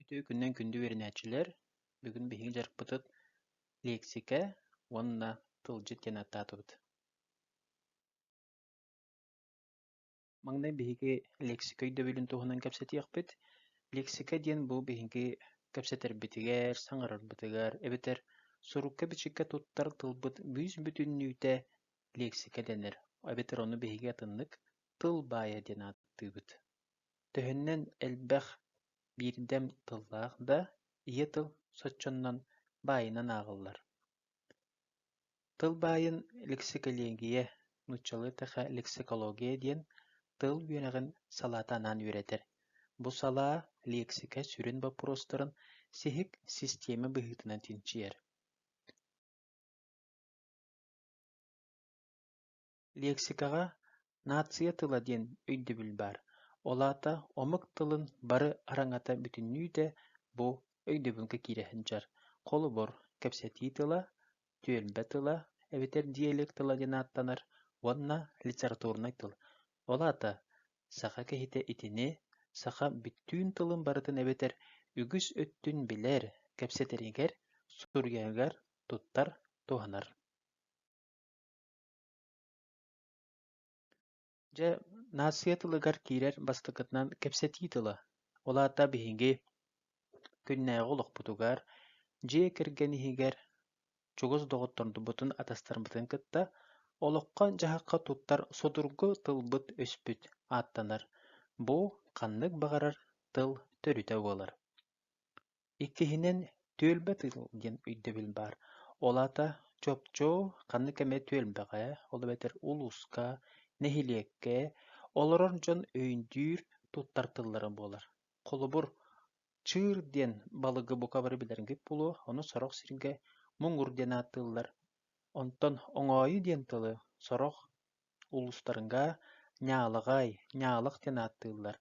Үтүө күнүнэн күндү үөрэнээччилэр! Бүгүн биһиги дьарыкпытыт лиэксикэ уонна тылдьыт диэн ааттаатыбыт. Маҥнай биһиги лиэксикэ өйдөбүлүн туһунан кэпсэтиэхпит. Лиэксикэ диэн бу биһиги кэпсэтэрбитигэр, саҥарарбытыгар эбэтэр сурукка-бичиккэ туттар тылбыт бүүс-бүтүннүүтэ лиэксикэ дэнэр, эбэтэр ону биһиги атыннык тыл баайа диэн ааттыыбыт. Төһөннөн элбэх биирдэм тыллаах да, ийэ тыл соччонон баайынан ааҕыллар Тыл баайын лексикология, нууччалыы-тэхэ лексикология диэн тыл үөрэҕин салаата анаан үөрэтэр. Бу салаа лиэксикэ сүрүн боппуруостарын сиһик систиэмэ быһыытынан чинчийэр Лиэксикэҕэ «нация тыла» диэн өйдөбүл баар, ол аата омук тылын бары араҥата бүтүннүүтэ бу өйдөбүлгэ киирэ сылдьар, холобур, кэпсэтии тыла, түөлбэ тыла эбэтэр диалект тыла диэн ааттанар уонна литературнай тыл. Ол аата саха киһитэ итини саха бүттүүн тылын барытын эбэтэр үгүс өттүн билэр, кэпсэтэригэр, суруйарыгар туттар, туһанар Дьэ, нация тылыгар киирэр бастакытынан кэпсэтии тыла. Ол аата биһиги күннээҕи олохпутугар, дьиэ кэргэн иһигэр чугус доҕоттордубутун, атастарбытын кытта олоххо-дьаһахха туттар судургу тылбыт-өспүт ааттанар. Бу ханнык баҕарар тыл төрүтэ буолар. Иккиһинэн, түөлбэ тыыл диэн өйдөбүл баар, ол аата чопчу ханнык эмэ түөлбэҕэ, ол эбэтэр улууска, нэһилиэккэ олорор дьон өйдүүр, туттар тыллара буолар. Холобур, чыыр диэн балыгы бука бары билэргит буолуо, ону сорох сиргэ муҥур диэн ааттыыллар. Онтон оҥоойу диэн тылы сорох Улуустарга Ньаалаҕай, Ньаалах диэн ааттыыллар,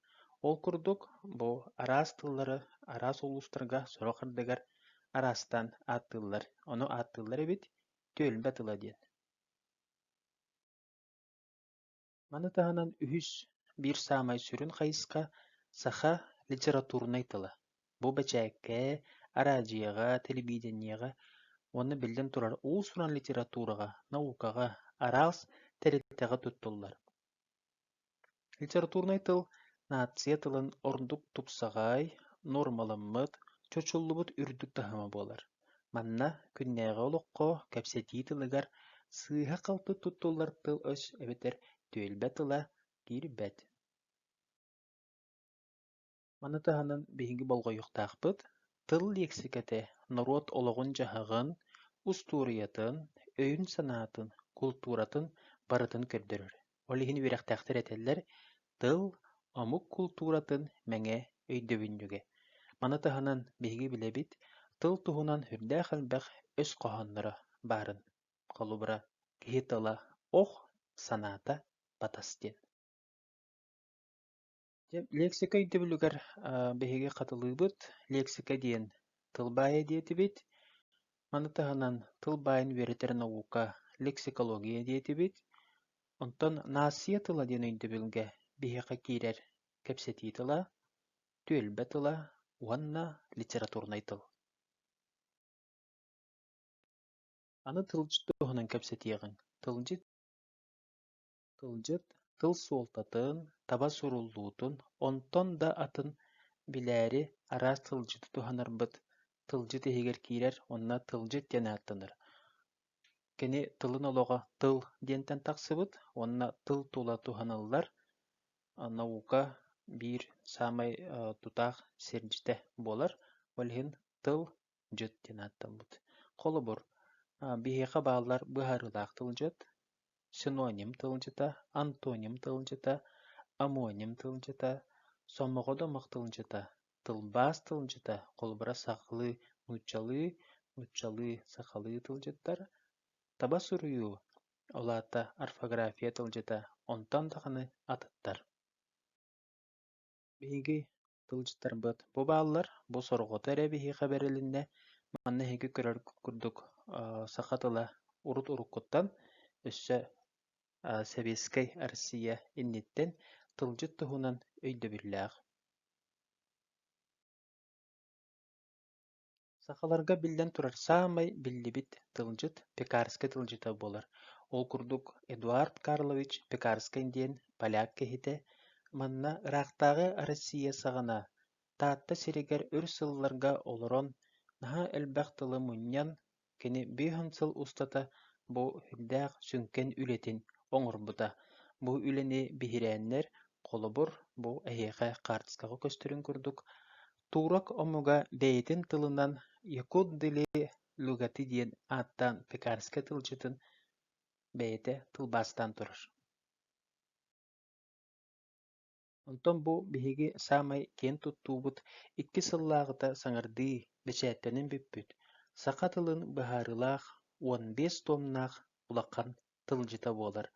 ол курдук, бу араас тыллары араас улуустарга сорох ардыгар араастаан ааттыыллар, ону ааттыыллар эбит «түөлбэ тыла» диэн. Маны таһынан үһүс, биир саамай сүрүн хайысха – саха литературнай тыла. Бу бэчээккэ, араадьыйаҕа, тэлэбиидэнньэҕэ уонна биллэн турар уус-уран литератураҕа, наукаҕа, араас тэрилтэҕэ туттуллар. Литературнай тыл нация тылын ордук тупсаҕай, нуормаламмыт, чочуллубут үрдүк таһыма буолар. Манна күннээҕи олоххо, кэпсэтии тылыгар сыыһа-халты туттуллар тыл-өс эбэтэр түөлбэ тыла киирбэт. Маны таһынан биһиги болҕойуохтаахпыт, тыл лиэксикэтэ норуот олоҕун-дьаһаҕын, устуоруйатын, өйүн-санаатын, култууратын барытын көрдөрөр. Ол иһин үөрэхтээхтэр этэллэр, тыл – омук култууратын мэҥэ өйдөбүнньүгэ. Маны таһынан биһиги билэбит, тыл туһунан сүрдээх элбэх өс хоһоонноро баарын. Холобура, киһи тыла – ох, санаата – батас диэн. Лиэксика өйдөбүлүгэр биһиги хатылыыбыт. Лиэксика диэн тыл баайа диэтибит. Маны таһынан тыл баайын үөрэтэр наука лексикология диэтибит. Онтон наассыйа тыла диэн өйдөбүлгэ биһиэхэ киирэр кэпсэтии тыла, түөлбэ тыла уонна литературнай тыл. Аны тылдьыт туһунан кэпсэтиэҕиҥ. Тылдьыт Тылдьыт тыл суолтатын, таба суруллуутун, онтон да атын билээри араас тылдьыты туһанарбыт, тылдьыт иһигэр киирэр уонна тылдьыт диэн ааттанар. Кини тылын олоҕо тыл диэнтэн тахсыбыт уонна тыл тула туһаныллар наука биир саамай тутаах сирдьитэ буолар, ол иһин тыл дьэт диэн ааттаммыт. Холобур, биһиэхэ бааллар быһаарыылаах тылдьыт, синоним тылдьыта, антоним тылдьыта, омоним тылдьыта, сомоҕодомох тылдьыта, тылбаас тылдьыта, холобура сахалыы нууччалыы, нууччалыы сахалыы тылдьыттар, таба суруйуу, ол аата орфография тылдьыта, онтон даҕаны атыттар. Биһиги тылдьыттарбыт бу бааллар, бу сорҕото эрэ биһиэхэ бэрилиннэ, манна эһиги көрөр курдук саха тыла урут-уруккуттан өссө сэбиэскэй Россия инниттэн тылдьыт туһунан өйдөбүллээх Сахаларга, биллэн турар, саамай биллибит тылдьыт пекарскай тылдьыта буолар. Ол курдук Эдуард Карлович Пекарскай диэн поляк киһитэ, манна ыраахтааҕы Россия саҕана Таатта сиригэр өр сылларга олорон, наһаа элбэх тылы мунньан, Кини биэс сыл устата бу сүрдээх сүҥкэн үлэтин оҥорбута, бу үлэни биһирээннэр, холобур, бу эһиэхэ хаартыскаҕа көстөрүҥ курдук, турок омуга бэйэтин тылынан «якут-дили лугаты» диэн ааттаан пекарскай тылдьытын бэйэтэ тылбаастаан турар Онтон бу биһиги саамай киэн туттуубут икки сыллааҕыта саҥардыы бэчээттэнэн бүппүт саха тылын быһаарыылаах уон биэс туомнаах улахан тылдьыта буолар.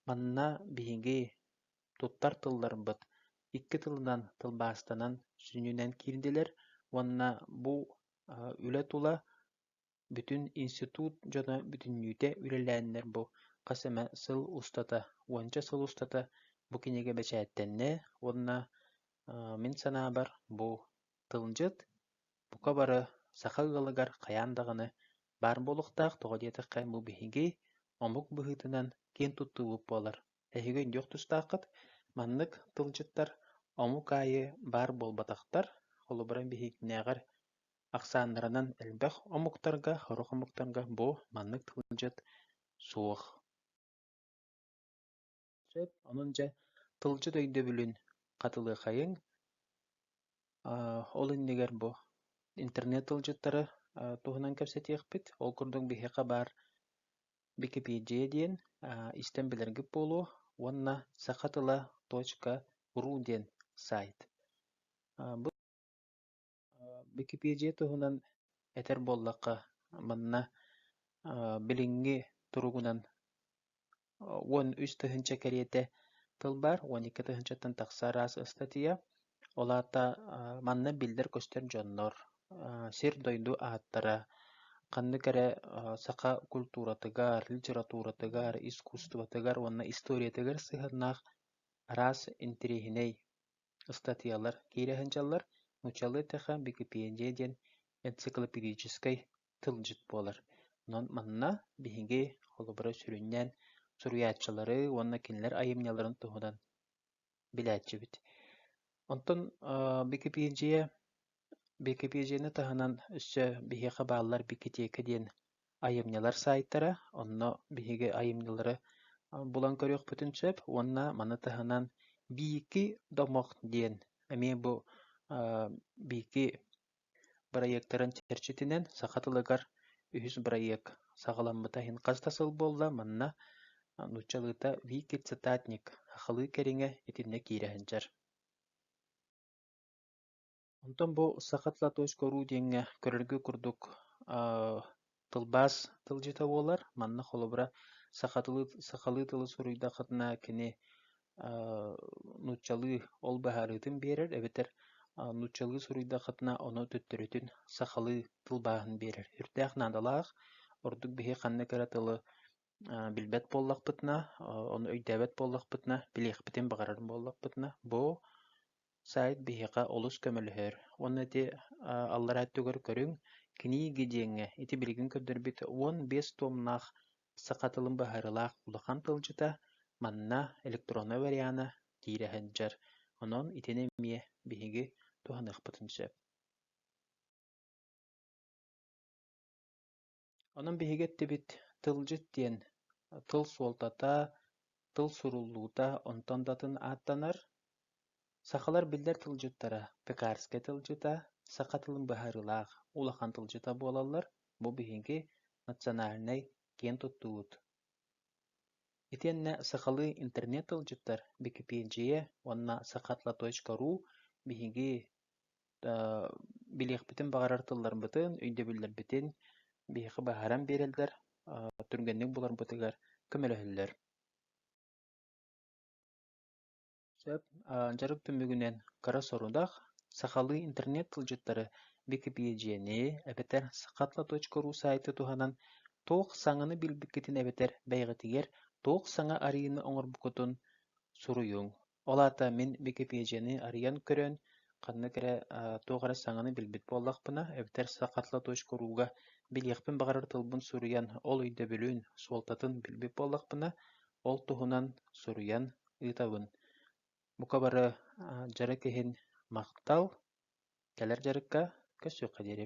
Манна биһиги туттар тылларбыт икки тылынан тылбаастанан сүнньүнэн киирдилэр уонна бу үлэ тула Бүтүн институт дьоно бүтүннүүтэ үлэлээннэр бу хас эмэ сыл устата, уонча сыл устата бу кинигэ бэчээттэннэ уонна мин санаабар бу тылдьыт, бука бары саха ыалагар хайаан даҕаны баар буолуохтаах, тоҕо диэтэххэ бу биһиги омук быһыытынан киэн туттуубут буолар. Эһиги өйдүөх тустааххыт, маннык тылдьыттар омук аайы баар буолбатахтар, холобура биһигинээҕэр Ахсааннаранан элбэх омуктарга, сорох омуктарга бу маннык тылдьыт суох сөп. Онон дьэ тылдьыт өйдөбүлүн хатылыаххайыҥ. Ол иннигэр бу интернет тылдьыттары туһунан кэпсэтиэхпит. Ол курдук биһиэхэ баар Википедия диэн истэн билэргит буолуо уонна саха тыла .ру диэн сайт. Бу Бикипиэдьийэ туһунан этэр буоллахха, манна билиҥҥи туругунан уон үс тыһыынча кэриэтэ тыл баар, уон икки тыһыынчаттан тахса араас ыстатыйа. Ол аата манна биллэр-көстөр дьоннор, сир-дойду ааттара, ханнык эрэ саха культуратыгар, литературатыгар, искусствотыгар уонна историятыгар сыһыаннаах араас интириэһинэй ыстатыйалар киирэ сылдьаллар, нууччалыы тыаха Википедия диэн энциклопедическай тылдьыт буолар. Онон манна биһиги, холобура, сүрүннээн суруйааччылары уонна кинилэр айымньыларын туһунан билээччибит. Онтон Википедия Бикипиэдьиэни таһынан өссө биһиэхэ бааллар бикитиэкэ диэн айымньылар саайтара, онно биһиги айымньылары булан көрүөхпүтүн сөп уонна маны таһынан «Биики домох» диэн эмиэ бу биики бырайыактарын чэрчитинэн саха тылыгар үһүс бырайыак саҕаламмыта иһин хас да сыл буолла, манна нууччалыыта «Вики цитатник» сахалыы кэриҥэ итиннэ киирэ сылдьар Онтон бу саха Тлатошка уруу диэҥҥэ көрөргө курдук тылбаас тылдьыта буолар. Манна холобура саха тылы сахалыы тылы суруйдаххытына кини нууччалыы ол быһаарыытын биэрэр эбэтэр нууччалыы суруйдаххытына ону төттөрүтүн сахалыы тылбааһын биэрэр. Үрдээх наадалаах, ордук биһи ханна кэрэ тылы Билбэт буоллахпытына, ону өйдөөбөт буоллахпытына, билиэхпитин баҕарар буоллахпытына, бу сайт биһиэхэ олус көмөлөһөр. Уонна ити аллараа өттүгэр көрүҥ, книги диэҥҥэ ити билигин көрдөрбүт уон биэс туомнаах саха тылын быһаарыылаах улахан тылдьыта, манна электроннай вариана киирэ сылдьар. Онон итини эмиэ биһиги туһаныахпытын сөп Онон биһиги эттибит «тылдьыт» диэн тыл суолтата, тыл суруллуута онтон да атын ааттанар. Сахалар биллэр тылдьыттара пекарскай тылдьыта, саха тылын быһаарыылаах улахан тылдьыта буолаллар. Бу биһиги национальнай киэн туттуубут. Итиэннэ сахалыы интернет тылдьыттар Википедия уонна саха тла.ру биһиги билиэхпитин баҕарар тылларбытын, өйдөбүллэрбитин биһиэхэ быһааран биэрэллэр, түргэнник буларбытыгар көмөлөһөллөр. Сөп. Дьарык түмүгүнэн кыра сорудах. Сахалыы интернет тылдьыттары Википедияны эбэтэр сахатла.ру сайты туһанан туох саҥаны билбиккитин эбэтэр бэйэҕитигэр туох саҥа арыйыыны оҥорбуккутун суруйуҥ. Ол аата мин Википедияны арыйан көрөн, ханнык эрэ, туох эрэ саҥаны билбит буоллахпына, эбэтэр сахатла.ру-га билиэхпин баҕарар тылбын суруйан, ол өйдөбүлүн, суолтатын билбит буоллахпына, ол туһунан суруйан ыытабын. Бука бары дьарык иһин махтал, кэлэр дьарыкка көрсүөххэ диэри